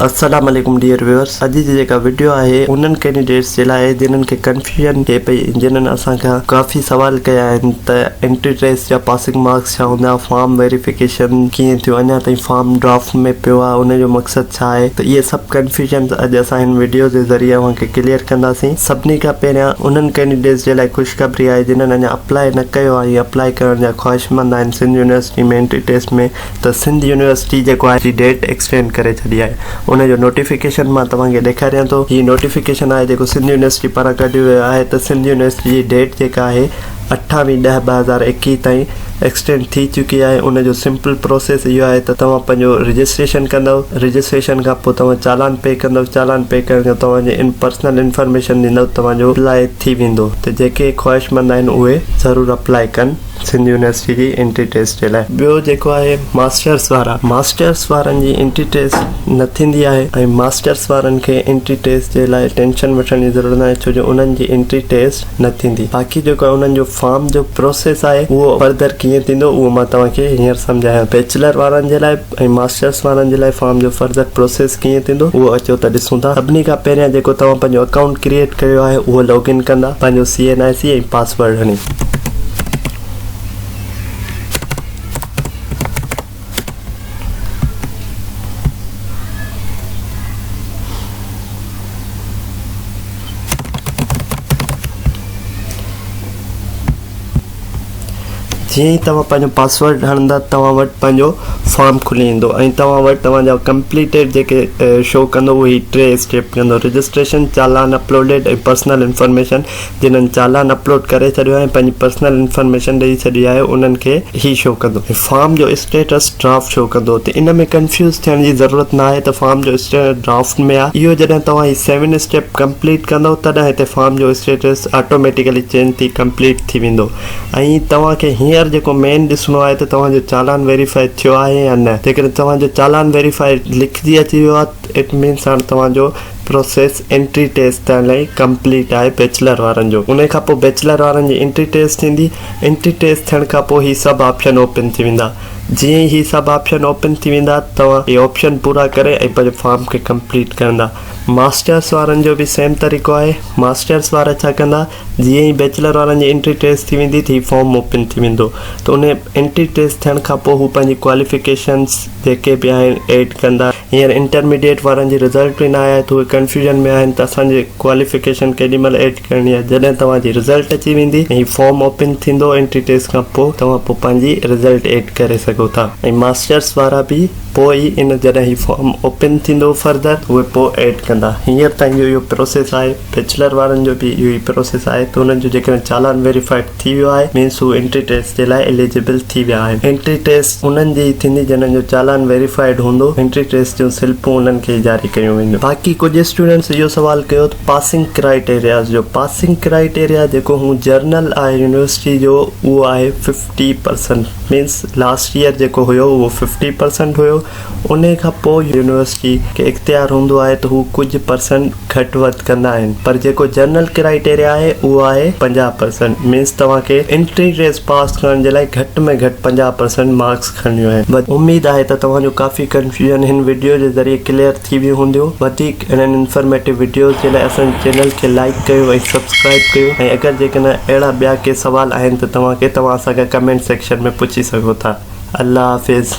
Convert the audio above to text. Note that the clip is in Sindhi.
السلام عليڪم ڊيئر ويورس اڄ جي جيڪا وڊيو آهي انهن ڪينڊيڊيٽس جي لاء جنهن کي ڪنفيوزن ٿئي پئي جنهن اسان کان ڪافي سوال ڪيا آهن ته انٽري ٽيسٽ جا پاسنگ مارڪس ڇا هوندا فارم ويريفڪيشن ڪيئن ٿيو اڃا تائين فارم ڊرافٽ ۾ پيو آهي ان جو مقصد ڇا آهي ته اهي سڀ ڪنفيوزنس اڄ اسان هن وڊيو جي ذريعي اوهان کي ڪليئر ڪنداسين سڀني کان پهريان انهن ڪينڊيڊيٽس جي لاء خوشخبري آهي جنهن اڃا اپلاء نه ڪيو آهي اپلاء ڪرڻ جا خواهشمند آهن سنڌ يونيورسٽي ۾ انٽري ٽيسٽ ۾ ته سنڌ يونيورسٽي جيڪو آهي جي ڊيٽ ايڪسٽينڊ ڪري ڇڏي آهي ان جو نوٽيفڪيشن مان توهان کي ڏيکاريان ٿو هي نوٽيفڪيشن آهي جيڪو سنڌ يونيورسٽي پاران ڪڍيو ويو آهي ته سنڌ يونيورسٽي جي ڊيٽ جيڪا آهي اٺاويهه ڏهه ٻه هزار ايڪيهه تائين ايڪسٽينڊ ٿي چڪي آهي ان جو سمپل پروسيس اهو آهي ته توهان پنهنجو رجسٽريشن ڪندو رجسٽريشن کان پوء توهان چالان پي ڪندو چالان پي ڪرڻ کان توهان جي ان پرسنل انفارميشن ڏيندو توهان جو اپلاء ٿي ويندو ته جيڪي خواهشمند آهن اهي ضرور اپلائي ڪن سنڌ يونيورسٽي جي انٽري ٽيسٽ جي لاء. ٻيو جيڪو آهي ماسٽرس وارا ماسٽرس وارن جي انٽري ٽيسٽ نه ٿيندي آهي ۽ ماسٽرس وارن کي انٽري ٽيسٽ جي لاء ٽينشن وٺڻ جي ضرورت ناهي ڇو جو انهن جي انٽري ٽيسٽ نه ٿيندي باقي جيڪو انهن جو فارم جو پروسيس آهي اهو فردر ڪيئن ٿيندو اهو مان توهان کي هينئر سمجهايان بيچلر وارن جي لاء ۽ ماسٽرس وارن جي لاء فارم جو فرضر پروسيس ڪيئن ٿيندو اهو اچو ته ڏسون ٿا سڀني کان پهريان جيڪو توهان پنهنجو اڪائونٽ ڪريئيٽ ڪيو آهي اهو لاگ ان ڪندا پنهنجو C N I C ۽ password هڻي. جيئن ئي توهان پنهنجو پاسورڊ هڻندا توهان وٽ پنهنجو فارم کلي ايندو ۽ توهان وٽ توهان جا ڪمپليٽيڊ جيڪي شو ڪندو اهي هي ٽي اسٽيپ ڪندو registration challan uploaded ۽ personal information جنهن چالان اپلوڊ ڪري ڇڏيو آهي ۽ پنهنجي پرسنل انفارميشن ڏئي ڇڏي آهي انهن کي هي شو ڪندو ۽ فارم جو اسٽيٽس ڊرافٽ شو ڪندو تي ان ۾ ڪنفيوز ٿيڻ جي ضرورت ناهي ته فارم جو اسٽيٽس ڊرافٽ ۾ آهي اهو جڏهن توهان هي سيون اسٽيپ ڪمپليٽ ڪندؤ تڏهن هتي فارم جو اسٽيٽس آٽوميٽيڪلي چينج ٿي ڪمپليٽ ٿي ويندو ۽ توهان کي هينئر جيڪو مين ڏسڻو آهي ته توهان جو چالان ويريفائي ٿيو آهي يا نه جيڪڏهن توهان جو چالان ويريفائي لکجي اچي ويو آهي اٽ مينس هاڻ توهان جو پروسيس انٽري ٽيسٽ تائين لائي ڪمپليٽ آهي بيچلر وارن جو انهي کان پوء بيچلر وارن جي انٽري ٽيسٽ ٿيندي انٽري ٽيسٽ ٿيڻ کان پوء هي سڀ آپشن اوپن ٿي ويندا جيئن ئي هي سڀ آپشن اوپن ٿي ويندا توهان هي آپشن پورا ڪري ۽ پنهنجو فارم کي ڪمپليٽ ڪرندا ماسٽرس وارن جو به سيم طريقو آهي، ماسٽرس وارا ڇا ڪندا جيئن ئي بيچلر وارن جي انٽري ٽيسٽ ٿي ويندي ته هي فارم اوپن ٿي ويندو ته ان انٽري ٽيسٽ ٿيڻ کان پوء هو پنهنجي ڪواليفڪيشنس جيڪي به آهن ايڊ ڪندا، هينئر انٽرميڊيٽ وارن جي رزلٽ به نه آيا آهي ته اهي ڪنفيوزن ۾ آهن ته اسان جي ڪواليفڪيشن ڪيڏي مهل ايڊ ڪرڻي آهي جڏهن توهان جي رزلٽ اچي ويندي ۽ هي فارم اوپن ٿيندو انٽري ٽيسٽ کان پوء توهان پوء پنهنجي رزلٽ ايڊ ڪري سگهو ٿا ۽ ماسٽرس وارا به پوء ئي ان جڏهن هي فارم اوپن ٿيندو فردر اهي پوء ايڊ ڪندا هينئر تائين جو اهو پروسيس آهي بيچلر وارن جو به اهو ئي پروسيس آهي ته انهن جو جيڪڏهن چالان ويريفائيڊ ٿي ويو آهي مينس هو انٽري ٽيسٽ جي لاء اليجبل ٿي ويا آهن انٽري ٽيسٽ انهن جي ئي ٿيندي جنهن جو چالان ويريفائيڊ هوندو انٽري ٽيسٽ جون سلپون انهن کي ئي جاري ڪيون وينديون باقي ڪجهه اسٽوڊنٽس اهو سوال ڪيو ته پاسنگ ڪرائٽيرياز جو پاسنگ ڪرائٽيريا جيڪو هون جرنل آهي يونيورسٽي جو اهو آهي ٽي پرسنٽ مينس لاسٽ ييئر جيڪو هيو اهو ففٽي پرسنٽ هيو ان کان پوء يونيورسٽي کي اختيار هوندو آهي ته هو ڪجهه پرسنٽ گهٽ وڌ ڪندا آهن پر جيڪو جنرل ڪرائيٽيريا آهي اهو آهي پنجاهه پرسنٽ مينس توهان کي انٽري ٽيسٽ پاس ڪرڻ جي لاء گهٽ ۾ گهٽ پنجاهه پرسنٽ مارڪس کڻڻيون آهن اميد آهي ته توهان جو ڪافي ڪنفيوزن هن وڊيو جي ذريعي ڪليئر ٿي ويون هونديون وڌيڪ اهڙن انفرميٽو وڊيوز جي لاء اسان جي چينل کي لائيڪ ڪيو ۽ سبسڪرائيب ڪيو ۽ اگر جيڪڏهن اهڙا ٻيا ڪي سوال آهن ته توهان کي توهان اسان کان ڪمينٽ سيڪشن ۾ پڇي سگهو ٿا الله حافظ.